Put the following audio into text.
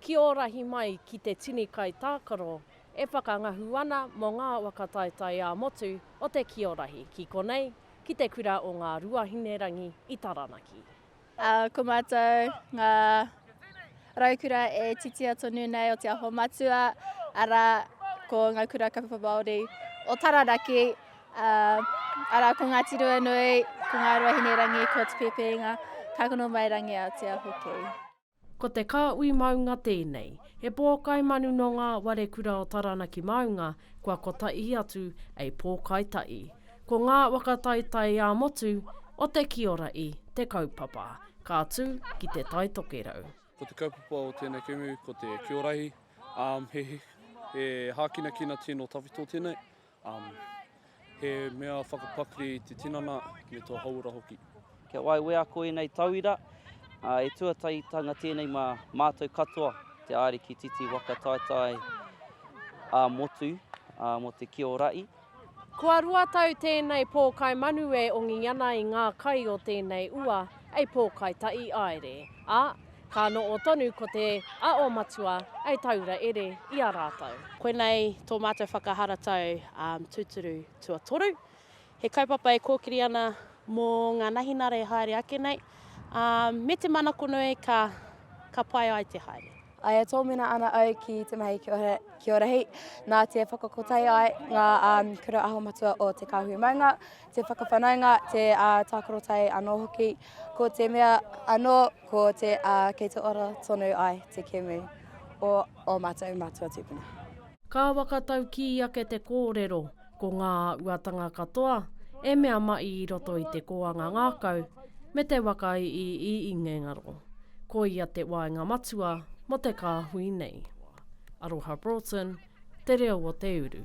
Ki ō rahi mai ki te tini kai tākaro e whakangahu ana mō ngā waka taetae ā-motu o te ki ō rahi, ki konei, ki te kura o Ngā Ruahinerangi i Taranaki. Ā, ko mātou ngā raukura e titia tonu nei o Te Aho Matua, arā, ko ngā kura kaupapa Māori o Taranaki, ā, arā, ko Ngāti Ruanui, ko Ngā Ruahinerangi, ko Te Pēpēinga, ka kono mai rangi a Aotea hoki. Ko te Kāhui Maunga tēnei. He pōkai manu nō ngā ware kura o Taranaki Maunga kua kotahi atu ei pōkai tahi. Ko ngā waka taitai ā motu o te kiora i te kaupapa. Ka tū ki te Tai Tokerau. Ko te kaupapa o tēnei kēmu ko te kiorahi, he hākinakina tino tawhito tēnei. Um, he mea whakapakri i te tinana me tō hauora hoki. Kia wai wea ko ēnei tauira, uh, e tuataitanga tēnei mā mātou katoa, te āriki titi waka taetae a motu uh, mo te kiorai. Kua rua tau tēnei pōkai manu e ongi ana i ngā kai o tēnei ua, ei pōkai taʻi aere. A, Ka noo tonu ko te a o Matua e taura ere i a ratou. Koinei tō mātou whakaharatau tūturu tuatoru. He kaupapa e kōkiri ana mō ngā nahinara e haere ake nei, ā, me te manakonui ka, ka pai ai te haere. I e tōmina ana au ki te mahi ki ora hei, nā te whakakotahi ai ngā kura aho matua o Te Kāhui Maunga, te whakawhanaunga, te tākarotae anō hoki. Ko te mea anō, ko te a kei te ora tonu ai te kēmu o ō mātou mātua tūpuna. Ka whakataukī ake te kōrero, ko ngā āhuatanga katoa e mea maʻi i roto i te kōanga ngākau me te waka i i Ingengaro. Koia te waenga matua mō te kāhui nei. Aroha Broughton, Te Reo o Te Uru.